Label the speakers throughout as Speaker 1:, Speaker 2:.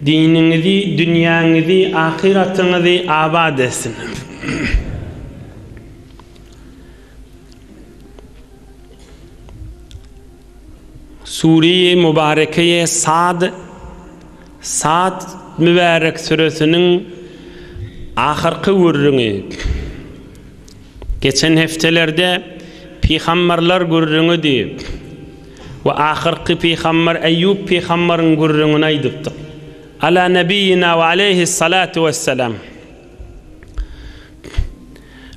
Speaker 1: Diniňizi, dünýäňizi, ahyratyňyzy abat etsin! Sureýi Mubarekeýe Sad, Sad, mübärek süresiniň ahyrky gürrüňi. Geçen hepdelerde pygamberler gürrüňidi. We ahyrky pygamber Eýýup pygamberyň gürrüňini aýdypdyk. Ala nebiýina we aleýhi salatu wessalam.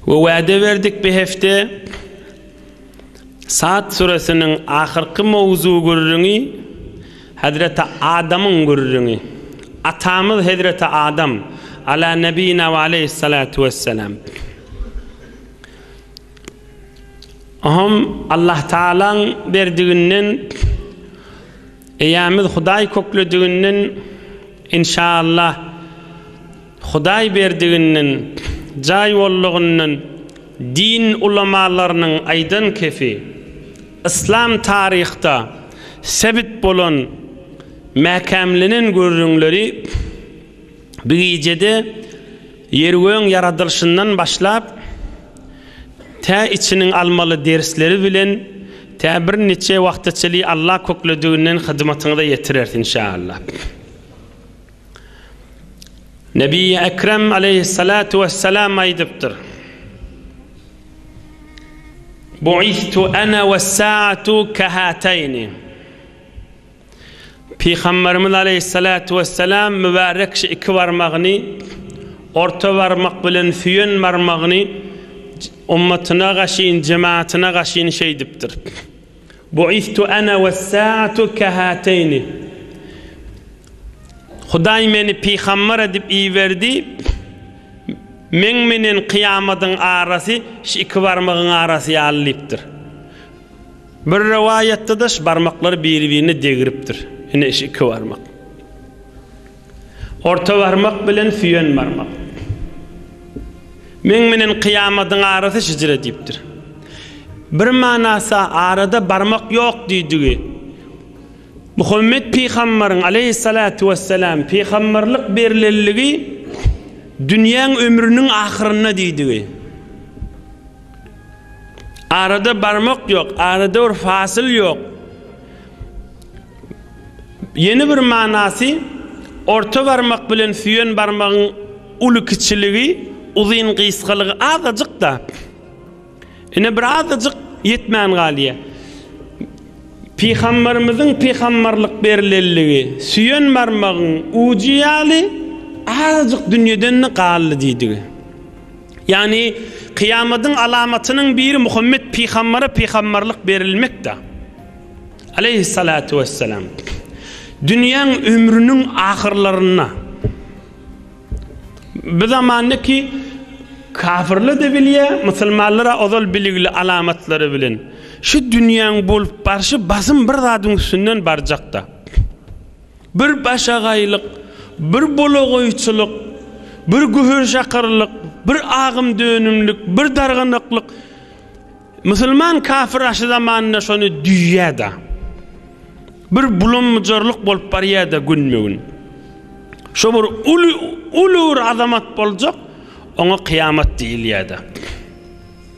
Speaker 1: We wäde berdik bi hefte Sad süresiniň ahyrky mowzu gürrüňi Hazreti Adamyň gürrüňi. Atamyz Hazreti Adam, ala nebiýina we aleýhi salatu wessalam. Oňam Allahtagalaň berdiginden, eýämiz Hudaý köklediginden, inşaallah, Hudaý berdiginden, jaý boldugyndan, din ulamalarynyň aýdan kefi, yslam taryhda sebit bolan mäkämlenen gürrüňleri, Bir gijede Ýer-göň ýaradylyşyndan başlap, tä içiniň almaly dersleri bilen tä bir niçe wagta çenli Alla köklediginden hyzmatyňyza ýetireris inşaAlla. Nebiýi Ekrem aleýhyssalatu wessalam aýdypdyr, Bu'is'tu ana wes-sa'atu kahateýni. Pygamberimiz Aleyhissalatu vesselam mübarek şu iki barmagyny orta barmak bilen süýen barmagyny ummatyna gaşyn, jemaatyna gaşyn şeýdipdir. Buistu ana wes-saatu kahatayni. Hudaý meni pygamber edip iberdi. Meň menen kyýamadyň arasy şu iki barmagyň arasy ýaly diýipdir. Bir rowaýatda-da şu barmaklar biri-birine degripdir. Ine şu iki barmak. Orta barmak bilen süýen barmak. Meň menen kyýamadyň arasy şijre diýipdir. Bir manasy-a arada barmak ýok diýdigi. Muhammet pygambaryň, aleýhissalatu wessalam, pygambarlyk berlenligi dünýäň ömrüniň ahyrynda diýdigi. Arada barmak ýok, arada bir fasyl ýok. Ýene bir manasy, orta barmak bilen süýen barmagyň uly-kiçiligi, uzyn-gysgalygy azajyk-da. Ine, bir azajyk ýetmän galýar. Pygamberimiziň pygamberlik berlenligi süýen barmagyň ujy ýaly azajyk dünýeden-de galdy diýdigi. Ýagny, kyýamadyň alamatynyň biri Muhammet pygambere pygamberlik berilmekdir. Aleýhissalatu wessalam. Dünýäň ömrüniň ahyrlarynda bu zamanda ki kafirler de bilýär, musulmanlar ozal biligli alamatlary bilen. Şu dünýäň bolup barşy basym bir zadyň üstünden barjakda. Bir başagaýlyk, bir bolagoýçylyk, bir gühenşakyrlyk, bir agymdönümlik, bir darganaklyk. Musulman kafir aşy zamanynda şony düýýär-de. Bir bulam-bujarlyk bolup barýar-da günbe-gün. Şo bir uly, uly bir azamat boljak, oňa kyýamat diýilýär-de.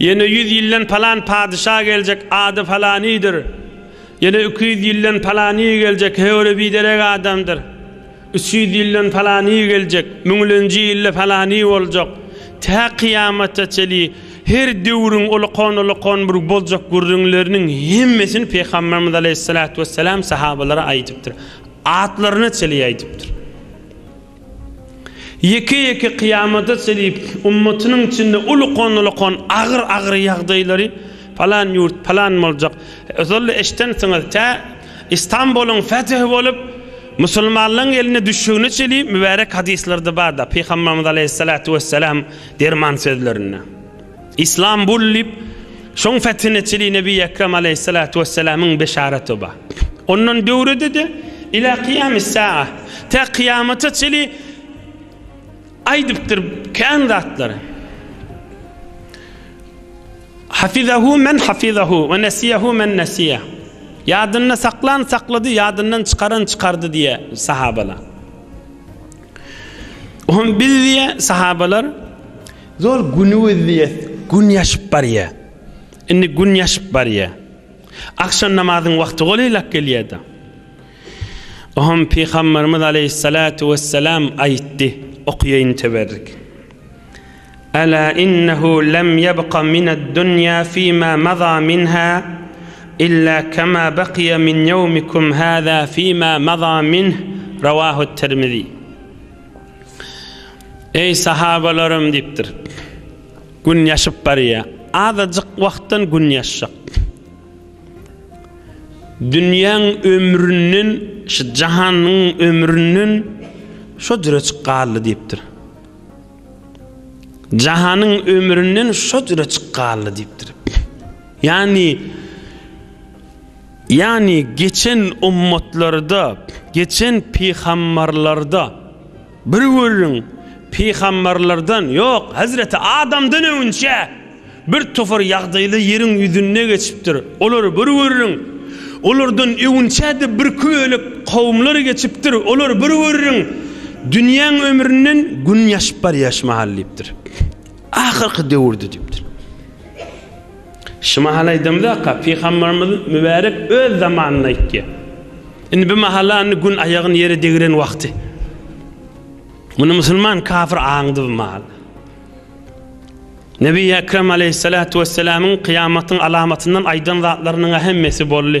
Speaker 1: Ýene ýüz ýyldan palan padyşa geljek, ady Palanydyr. Ýene iki ýüz ýyldan Palany geljek, höwri biderek adamdyr. Üç ýüz ýyldan Palany geljek, müňlenji ýylda Palany boljak. Tä kyýamata çenli her döwrüň olakonolakon bir boljak gürrüňleriniň hemmesini Pygamberimiz aleýhissalatu wesselam sahabalara aýdypdyr. Atlaryna çenli aýdypdyr. Ýeke-ýeke kyýamata çenli ummatynyň içinde ulukan-ulukan agyr-agyr ýagdaýlary, palan ýurt, palan boljak, ozal-da eşidensiňiz, tä Istanbulyň fethi bolup, musulmanlaryň eline düşjegine çenli mübärek hadyslarda bar-da, Pygamberimiz aleýhissalatu wessalam derman sözlerinde. Islam bul diýip, şoň fethiniçili Nebi Ekrem aleýhissalatu wessalamyň beşaraty bar. Ondan döwredede ila kyýamis saa, tä kyýamata çeli aýdypdyr kän zatlary. Hafizahu men hafizahu we nesiyahu men nesiya. Ýadynda saklan saklady, ýadyndan çykaran çykardy diýe sahabalar. Oňa biz diýe sahabalar Zol günügizlies gün ýaşyp barýa. Indi gün ýaşyp barýa. Agşam namazyň wagty golaýlap gelýä-de. Ohm Pygamberimiz aleýhissalatu wessalam aýtdy, okaýaýyn teberrik. Ala innehu lem ýebqa mined dunýa fima maza minha illa kama bakyýa min ýewmikum haza fima maza minh, Rawahu Tirmizi. Eý, sahabalarym! diýipdir. Gün ýaşyp barýar. Azajyk wagtdan gün ýaşjak. Dünýäň ömründen, şu jahanyň ömründen şo jürejik galdy diýipdir. Jahanyň ömründen şo jürejik galdy diýipdir. Ýagny, Ýagny geçen ummatlarda, geçen pygambarlarda bir görüň, pygambarlardan, ýok, Hazreti Adamdan öňünçä bir topar ýagdaýla ýeriň ýüzünde geçipdir. Olary bir görüň, olardan öňünçä-de birki bölek kowumlar geçipdir, olary bir görüň, dünýäň ömründen gün ýaşyp barýar şu mahal diýipdir. Ahyrky döwürdi diýipdir. Şu mahaly aýdamzaka, pygamberimiz mübärek öz zamanyny aýtýar. Indi bu mahala indi gün aýagyny ýere degiren wagty. Muny musulman kafir aňdy bu mahaly. Nebi Ekrem aleyhissalatu vesselamyň kyýamatyň alamatyndan aýdan zatlarynyň ähemmesi boldy.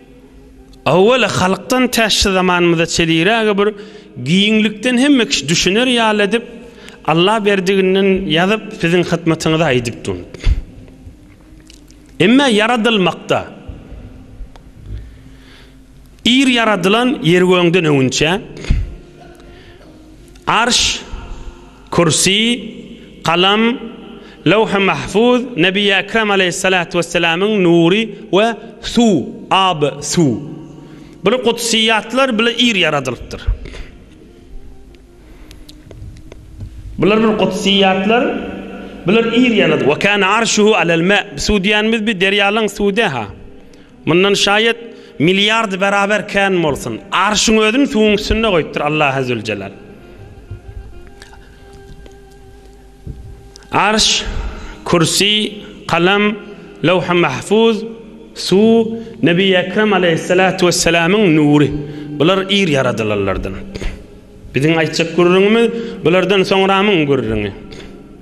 Speaker 1: Awwala halkdan tä şu zamanymyza çeliräge bir giňlikden hemme kişi düşüner ýaly edip, Allaberdiginden ýazyp siziň hyzmatyňyza aýdyp durun. Emmä ýaradylmakda ir ýaradylan ýer gögden öňünçä, arş, Kürsi, galam, Löwh-i Mahfuz, Nebi-i Ekrem aleýhyssalatu wesselamyň nury we suw, ab, suw. Bul gudsyýatlar bile ir ýaradylypdyr. Bular bir gudsyýatlar, bular ir ýaradylyp. Ve kana arşuhu alel-ma, suw diýýänimiz bi derýalaň suw dä-ha. Mundan şaýat milliard beraber kän bolsun. Arşyň özüni suwuň üstünde goýupdyr Allahy Züljelal. Arş, kürsi, kalam, lawhy mahfuz, suw, Nebi Ekrem Aleýhissalatu Wessalamyň nury. Bular ir ýaradylanlardan. Biziň aýtjak gürrüňimiz bulardan soňramyň gürrüňi.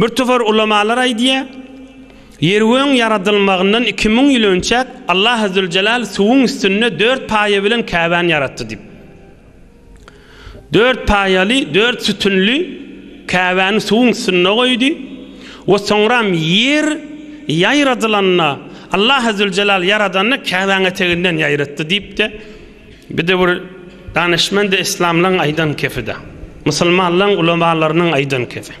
Speaker 1: Bir topar ulamalar aýdýar, Ýeröň ýaradylmagyndan iki müň ýyl önçäk Allah Azzöljelal suwuň üstünde dört paýa bilen Käbäni ýaratdy diýip. Dört paýaly, dört sütünli Käbäni suwuň üstünde goýdy we soňram ýer ýaýradylanda Allah Azzöljelal ýaradanda Käbäni eteginden ýaýratdy diýip-de, Bir döwür danyşmand-y yslamlaň aýdan kefi-de, musulmanlaň ulamalarynyň aýdan kefi.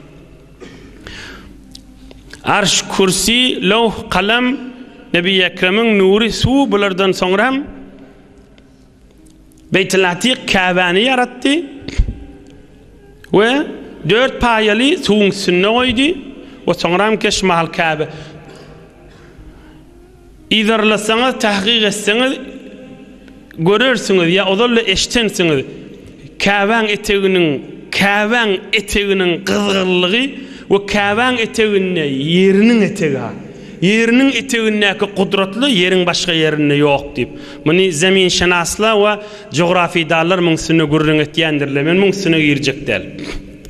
Speaker 1: Arş, kürsi, lowh, kalam, Nebi Ekremiň nury, suw bulardan soňra hem Beýtil Atyk, Käbäni ýaratdy we dört paýaly suwuň üstünde goýdy we soňra hem keş mahal Käbe. Yzarlasaňyz, tahkyk etseňiz, görersiňiz ýa ozal-da eşidensiňiz, Käbäň eteginiň, Käbäň eteginiň gyzgyrlygy we Käbäň eteginde ýeriniň etegi-ha, ýeriniň etegindäki gudratly ýeriň başga ýerinde ýok diýip. Muny zeminşenaslar we jografidallar muň üstünde gürrüň etýändirler. Men muň üstüne girjek däl.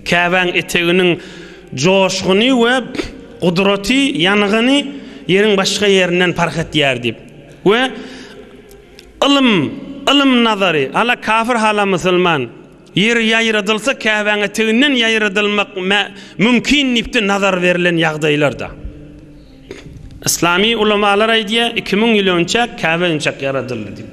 Speaker 1: Käbäň eteginiň joşguny we. Gudraty ýangyny Ýeriň başga ýerinden parh etýär diýip we Ylym, ylym nazary, hala kafir hala musulman, Ýer ýaýradylsa Käbäňe teginden ýaýradylmak mümkin diýipde nazar berlen ýagdaýlarda. Yslamy ulamalar aýdýar iki müň ýyl önçäk Käbe önçäk ýaradyldy diýip.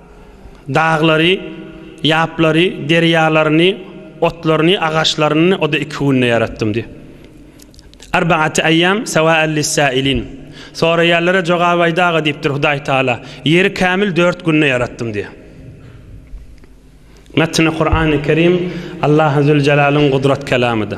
Speaker 1: Daglary, ýaplary, derýalaryny, otlaryny, agaçlaryny o-da iki günde ýaratdym diý. Arbaati aýýam sawa'an lis-sâilin. Soraýanlara jogap aýdaga diýipdir Hudaý Tagala. Ýeri kämil dört günde ýaratdym diý. Metni Kurany Kerim Allahzüljelalyn gudrat kelamydy.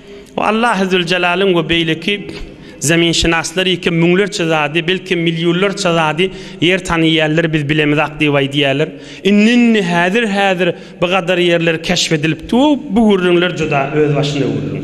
Speaker 1: O Allahy Züljelalyn we beýleki Zeminşynaslar ýeke müňlerçe zady, belkem millionlarça zady ýer tanaýýarlar biz bilemizak diýip aýdýarlar. Indi indi häzir häzir bu gadar ýerler keşf edilipdi we bu gürrüňler juda öz başyna gürrüň.